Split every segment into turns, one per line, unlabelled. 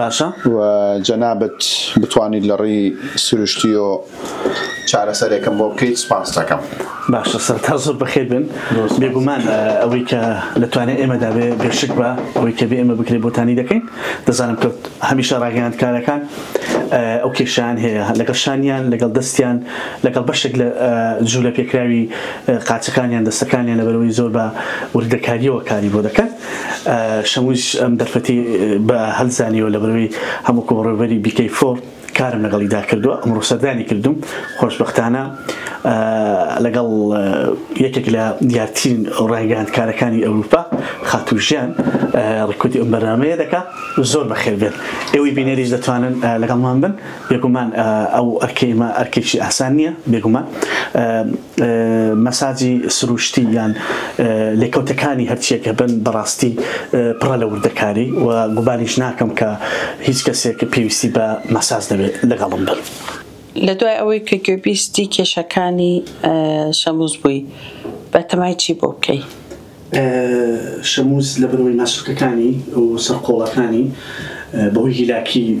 باشە و
جەنابت
بتوانیت لە ڕوی سروشتیۆ چارەسەرێکم بۆ بکەیت سوپاست ئەکەم. باشە سەرەتا
زۆر بەخێر بێن بێگومان ئەوەی کە لە توانای ئێمەدا بێ بێ شک بە ئەوەی کە بێ ئێمە بکرێ بۆتانی دەکەین دەزانم کە هەمیشە ڕاگەیاندکارەکان ئەو کێشیان هەیە لەگەڵ شانیان لەگەڵ دەستیان لەگەڵ بەشێک لە جوولە پێکراوی قاچەکانیان دەستەکانیان لەبەرەوەی زۆر بە وردەکاریەوە کاری بۆ دەکەن شەمووش ئەم دەرفەتی بە هەل زانیوە لەبەرئەوەی هەم وەکو بەڕێوەبەری بیکەی فۆر کارم لەگەڵیدا کردووە ئەمڕۆ سەردانی کردووم خۆشبەختانە لەگەڵ یەکێک لە دیارترین ڕاگەیاندکارەکانی ئەوروپا خاتوو ژیان ڕکوتی ئەم بەرنامەیە دەکا زۆر بەخێر بێت ئێوەی بینەریش دەتوانن لەگەڵمان بن بێگومان ئەو ئەرکەی ئەرکێکی ئاسان نییە بێگومان مەساجی سروشتی یان لێکەوتەکانی هەرچییەک هەبن بەڕاستی پڕە لە وردەکاری و گومانیش ناکەم کە هیچ کەسێک پێویستی بە مەساج نەبێت لەگەڵم بن. لەدوای ئەوەی
کە گوێبیستی کێشەکانی شەمووز بووی بەتەمای چی بۆ بکەی؟ شەمووز لەبەرئەوەی ناسووتەکانی
و سەرقۆڵەکانی بەهۆی هیلاکی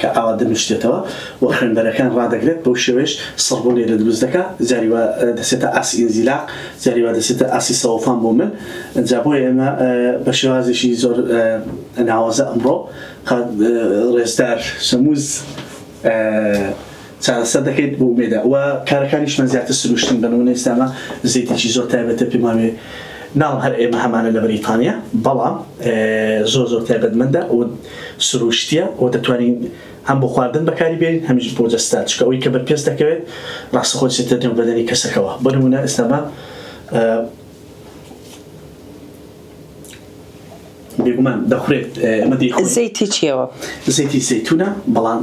کە ئاوا دەنووسرێتەوە و خوێنبەرەکان ڕادەگرێت، بەو شێوەیەش سڕبوونێ لە دروست دەکا، جاری وا دەچێتە ئاستی ئینزیلاق، جاری وا دەچێتە ئاستی سەوڵتان بۆ مل. جا بۆیە ئێمە بە شێوازێکی زۆر ناوازە ئەمڕۆ قا ڕێزدار شەمووز، چارەسەر دەکەیت بۆ مێدا و کارەکانیشمان زیاتر سروشتن بە نمونە ئیستا ئەمە زەیتێکی زۆر تایبەتە پێم وابێ ناڵم هەر ئێمە هەمانە لە بەریتانیا بەڵام زۆر زۆر تایبەتمەندە و سروشتیە و دەتوانین هەم بۆ خواردن بەکاری بێنین هەمیش بۆ جەستە چکە ئەوی کە بەر پێست دەکەوێت ڕاستە خۆی چێتە نێو بەدەنی کەسەکەوە بۆ نمونە ئێستا بە بێگومان دەخورێت ئەمە دەی زەیتی چیەوە
زەیتی زەیتونە
بەڵام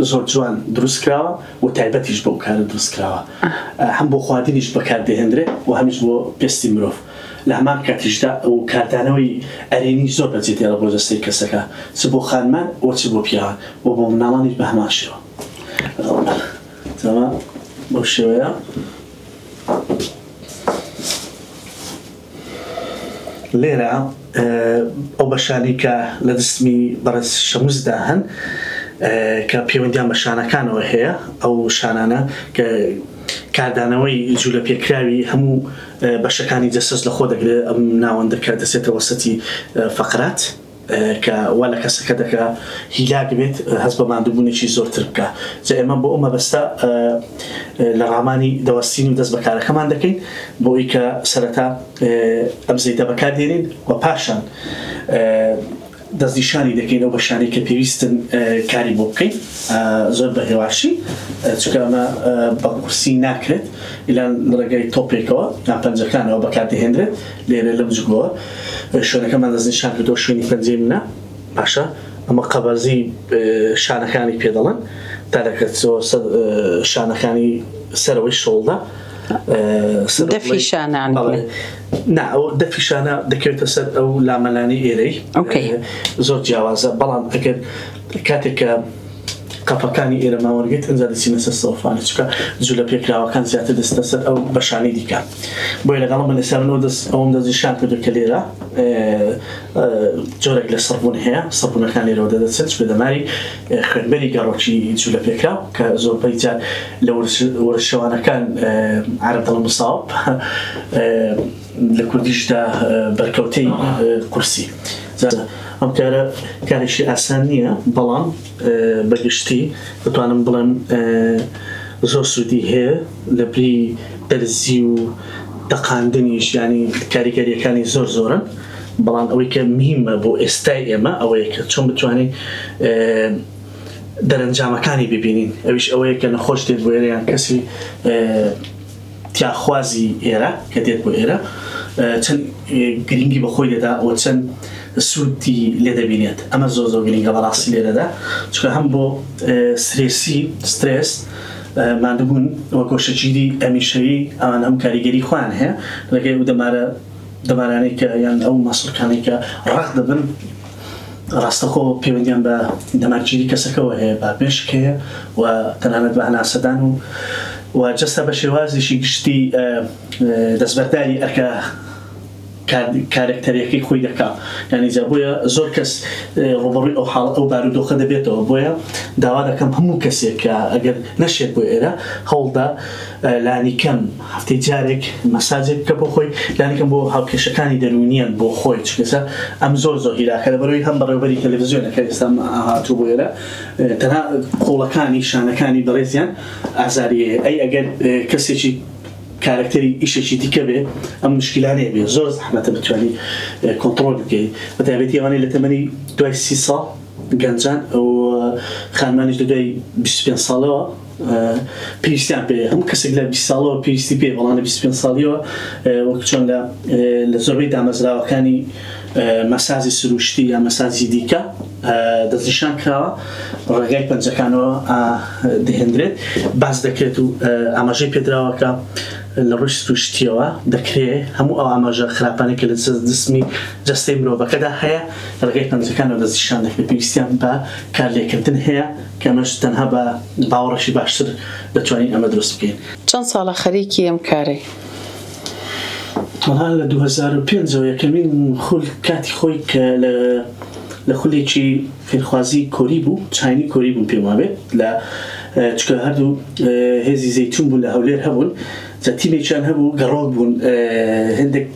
زۆر جوان دروستکراوە و تایبەتیش بۆ کارە دروستکراوە هەم بۆ خواردنیش بەکاردەهێنرێت و هەمیش بۆ پێستی مرۆڤ لە هەمان کاتیشدا ئەو کاردانەوەی ئەرێنی زۆر بەجێ دێڵە بۆ جەستەی کەسەکە چ بۆ خانمان و چ بۆ پیاوان و بۆ مناڵانیش بە هەمان شێوە بەو شێوەیە لێرە ئەو بەشانەی کە لە دەستمی بەڕێز شەمسدا هەن کە پەیوەندیان بە شانەکانەوە هەیە ئەو شانانە کە کاردانەوەی جوولە پێکراوی هەموو بەشەکانی جەسەس لەخۆ دەگرێت ئەم ناوەندەکە دەچێتەوە سەتی فەقرات کە وا لە کەسەکە دەکا هیلاک بێت هەست بە ماندووبوونێکی زۆرتر بکا. جا ئێمە بۆ ئەو مەبەستە لە ڕامانی دەوەستین و دەست بە کارەکەمان دەکەین بۆ ئەوەی کە سەرەتا ئەم زەیتە بەکار دێنین و پاشان دەستنیشانی دەکەین ئەو بەشانەی کە پێویستن کاری بۆ بکەین زۆر بە هێواشی چونکە ئەمە بە قورسی ناکرێت ئیلان لە ڕێگای تۆپێکەوە یان پەنجەکانەوە بەکار دەهێندرێت لێرە لەم جگۆوە شوێنەکەمان دەستنیشان کردووە شوێنی پەنجەی منە باشە ئەمە قەبەرزی شانەکانی پێ دەڵێن تەرەکە شانەکانی سەرەوەی شۆڵدا
دەفی شانان نا
ئەو دەفی شانە دەکەوێتە سەر ئەو لامەلانی ئێرەی زۆر جیاوازە بەڵام ئەگەر کاتێک کە قەپەکانی ئێرە ماوەن گرت ئەجا دەچینە سەر سەوفانە چکە جولە پێکراوەکان زیاتر دەستە سەر ئەو بەشانی دیکە بۆی لەگەڵم بە لەسەرەوە دەست ئەوم دەستنیشان کردو کە لێرە جۆرێک لە سڕبوون هەیە سڕبوونەکان لێرەوە دەدەچێت چ دەماری خوێنبەری گەڕۆکی جولە پێکراو کە زۆربەی جار لە ورشەوانەکان عرب دڵ مساڵ لە کوردیشدا بەرکەوتەی قورسی زادە. ئەم کارە کارێکی ئاسان نییە، بەڵام بە گشتی دەتوانم بڵێم زۆر سوودی هەیە لە بری دەرزی و تەقاندنیش، یانی کاریگەرییەکانی زۆر زۆرن، بەڵام ئەوەی کە مهیمە بۆ ئێستای ئێمە ئەوەیە کە چۆن بتوانین دەرەنجامەکانی ببینین، ئەویش ئەوەیە کە نەخۆش دێت بۆ ئێرە یان کەسی تیاخوازی ئێرە کە دێت بۆ ئێرە چەند گرنگی بە خۆی دەدا و چەند سوودی لێ دەبینێت ئەمە زۆر زۆر گرنگە بەڕاستی لێرەدا چکە هەم بۆ سرێسی سترێس مادبوون وە گۆشەگیری ئەمیشەوی ئەوان هەم کاریگەری خۆیان هەیە لەگەی و دەمارە دەمارانەی کە یان ئەو مەسڵکانەی کە ڕەق دەبن ڕاستەخۆ پەیوەندیان بە دەمارگیری کەسەکەوە هەیە، بابێشک هەیە و تەنانەت بە هەناسەدان و و جەستە بە شێوازێکی گشتی دەستبەرداری ئەرکە کارەکتەریەکەی خۆی دەکا یانی جا بۆیە زۆر کەس ڕوبەڕوی ئەو حاڵ ئەو بارودۆخە دەبێتەوە بۆیە داوا دەکەم هەموو کەسێک کە ئەگەر نەشێت بۆ ئێرە هەوڵدە لانیکەم هەفتەی جارێک مەساجێک بکە بۆ خۆی لانیکەم بۆ هاوکێشەکانی دەروونییان بۆ خۆی چونکە ئەم زۆر زۆر هیلاکە لەبەرەوەی هەم بەڕێوبەری تەلەفزیۆنە کە ئێستا هاتوو بۆ ئێرە تەنها قوڵەکانی شانەکانی بەڕێزیان ئازاری هەیە ئەی ئەگەر کەسێکی کارکتەری ئیشێکی دیکە بێ ئەم مشکلانەیە بێ زۆر زەحمەتە بتوانانی کۆنتترۆل بکەیت بە تابێتی ئەوانەی لە تەمەنی دوای سی ساڵ گەنجان ئەو خانمانیش لە دوای 25 ساڵەوە پێویستیان پێ هەم کەسێک لە 20 ساڵەوە پێویستی پێ بەڵام لە 25 ساڵیەوە وەک چۆن لە لە زۆربەی دامەزراوەکانی مەسازی سروشتی یا مەسازی دیکە دەستنیشان کراوە ڕێگای پەنجەکانەوە دەهێندرێت باز دەکرێت و ئاماژەی پێدراوەکە لە ڕووی سروشتیەوە دەکرێت هەموو ئەو ئاماژە خراپانێکە لە دەستمی جستەی مرۆڤەکەدا هەیە ڕێگای پەنجەکانەوە دەستنیشان دەکرێت پێویستیان بە کارلێکردن هەیە ئێمەش تەنها بە باوەڕێکی باشتر دەتوانین ئەمە دروست بکەین. چەند ساڵە خەریکی
ئەم کارەی؟ تەنها
لە دوو هەزار و پێنج ەوە یەکەمین خول کاتی خۆی کە لە خولێکی فێرخوازی کۆری بوو، چاینی کۆری بووم پێم وابێت لە چونکە هەردوو هێزی زەیتون بوون لە هەولێر هەبوون جا تیمێکیان هەبوو گەڕۆک بوون هێندێک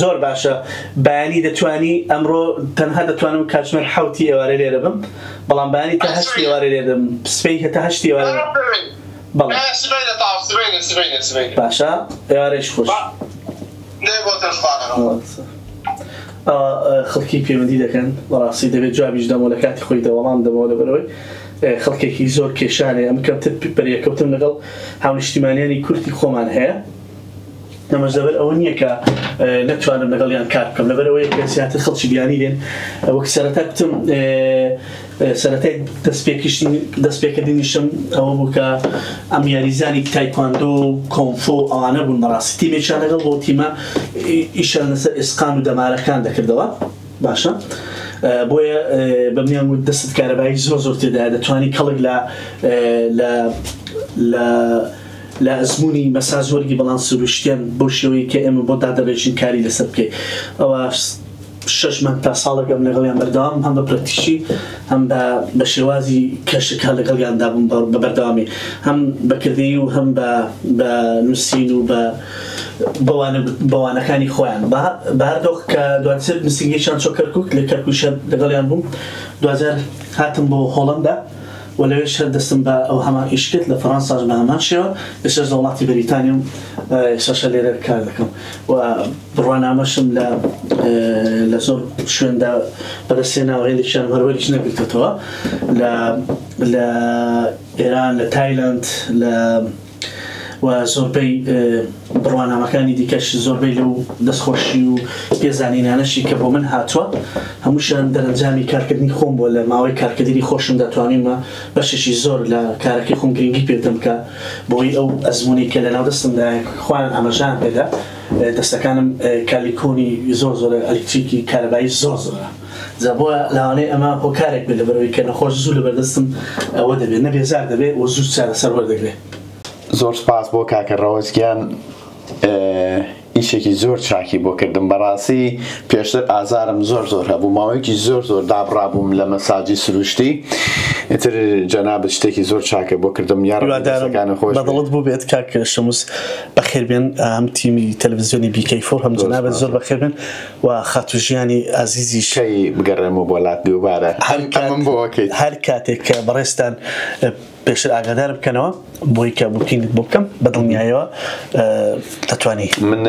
زۆر باشە
بەیانی دەتوانی ئەمڕۆ تەنها دەتوانم کاتژمێر حوتی ئێوارێ لێرە بم بەڵام بەیانی تا هەشت ئێوارێ لێ دەم سبەی هەتا هەشت ئێوارێ باشە ئێوارێش خۆش خەڵکی پەیوەندی دەکەن بەڕاستی دەبێت جوابیش دەمەوە لە کاتی خۆی دەوەڵام دەمەوە لەبەرەوەی خەڵکێکی زۆر کێشان هەیە، ئەم کەمتر پرێکەوتن لەگەڵ هاونیشتیمانیانی کوردی خۆمان هەیە، ئەمەش لەبەر ئەوە نییە کە نەتوانم لەگەڵیان کار بکەم، لەبەر ئەوەیە کە زیاتر خەڵکی بیانی دێن، وەک سەرەتا گوتم سەرەتای دەستپێکردنیشم ئەوە بوو کە ئەم یاریزانی تایکواندۆ و کۆنفۆ ئەوانە بوون بەڕاستی تیمێکیان لەگەڵ بوو، تیمە ئیشیان لەسەر ئێسقان و دەمارەکان دەکردەوە. باشە بۆیە بە منیان وت دەستت کارەبایی زۆر زۆر تێدا دەتوانی کەڵک لە لە لە ئەزمموی مەسا زۆرگی بەڵام سروشتیان بۆ شێوەی کە ئێمە بۆ دادەڕێژین کاری لەسەر بکەیت ئەوە شش من تا ساڵەکەم لەگەڵیان بەردەوام هەم بە پرەکتیشی هەم بە شێوازی کەشەکە لەگەڵیاندا بووم بە بەردەوامی هەم بەکردی و هەم بە نووسین و بە بە وانەکانی خۆیان بەهەردۆخ کە دواتر نوسینگەیشان چۆ کەرکوک لە کەرکوکشە لەگەڵیان بووم دوجار هاتم بۆ هۆڵەندا و لەوێش هەر دەستم بە ئەو هەمان ئیش کرد لە فەرانساش بە هەمان شێوە ئێستاش لە وڵاتی بەریتانیام ئێستاشە لێرە کار دەکەم و بڕوانامەشم لە لە زۆر شوێندا بەدەستێناوە هێندێکیان هەروەریش نەگرتەوە لە لە ئێران لە تایلەند لە و زۆربەی بڕوانامەکانی دیکەش زۆربەی لەو دەستخۆشی و پێزانینانەشی کە بۆ من هاتووە هەمووشیان دەرەنجامی کارکردنی خۆم بووە لە ماوەی کارکردنی خۆشم دەتوانیمە بەشێکی زۆر لە کارەکەی خۆم گرنگی پێدەم کە بۆی ئەو ئەزمونی کە لەناو دەستمدا خۆیان ئاماژان پێدا دەستەکانم کالیکۆنی زۆر زۆرە ئەلکتریکی کارەبایی زۆر زۆرە جا بۆ لاوانەی ئەمە هۆکارێک بێت لەبەرەوەی کە نەخۆش زوو لەبەردەستم ئەوە دەبێت نە بێزار دەبێت و زوو چارەسەر وەردەگرێت. زۆر سپاس
بۆ کاکە ڕەوەز گیان ئیشێکی زۆر چاکی بۆ کردم بەڕاستی پێشتر ئازارم زۆر زۆر هەبوو ماوەیەکی زۆر زۆر دابڕابووم لە مەساجی سروشتی ئیتر جەنابت شتێکی زۆر چاکە بۆ کردم یاڕدارەکان خۆش بەدڵت بوو بێت کاک
شەموس بەخێربێن ئەم تیمی تەلەڤزیۆنی بیکەی فۆر هەم جەنابت زۆر بەخێربێن و خاتوو ژیانی ئازیزیش. کەی بگەڕێمەوە
بۆ لات دووبارە هەر کات ئەمەم بۆ ئەکەیت. هەر کاتێک کە
بەڕێزتان پێشتر ئاگادارم بکەنەوە بۆی کە بوکینگت بۆ بکەم بە دڵنیایەوە دەتوانی. من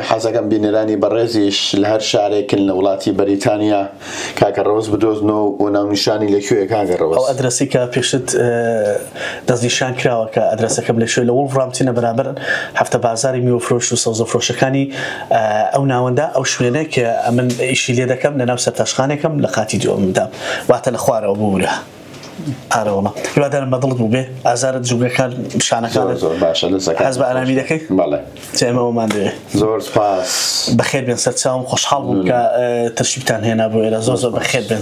حەز ئەکەم بینەرانی بەڕێزیش لە هەر شارێکن لە وڵاتی بەریتانیا کاکە ڕەوەز بدۆزنەوە و ناونیشانی لە کوێیە کاکە ڕەوەز؟ ئەو ئەدرەسەی کە
پێشتر. دەستنیشان کراوە کە ئەدرەسەکە بلێشێت لە وڵڤرامپتنە بەرامبەر هەفتە بازاری میوەفرۆش و سەوزەفرۆشەکانی ئەو ناوەندە، ئەو شوێنەی کە ئەمن ئیشی لێ دەکەم لە ناو سەرتاشخانێکەم لە قاتی دووەممدا واتە لە خوارەوە ببورە ئارەوەڵا هیوادارم بە دڵت بووبێ ئازارت جومگەکان شانەکانت زۆر باشە دەسەکە حەز بە ئارامی دەکەی بەڵێ چێمەوەمان دەوێ زۆر سپاس بەخێر بێن
سەرچاوم
خۆشحاڵ بووم کە تەشریفتان هێنا
بۆ
ئێرە زۆر زۆر بەخێر بێن.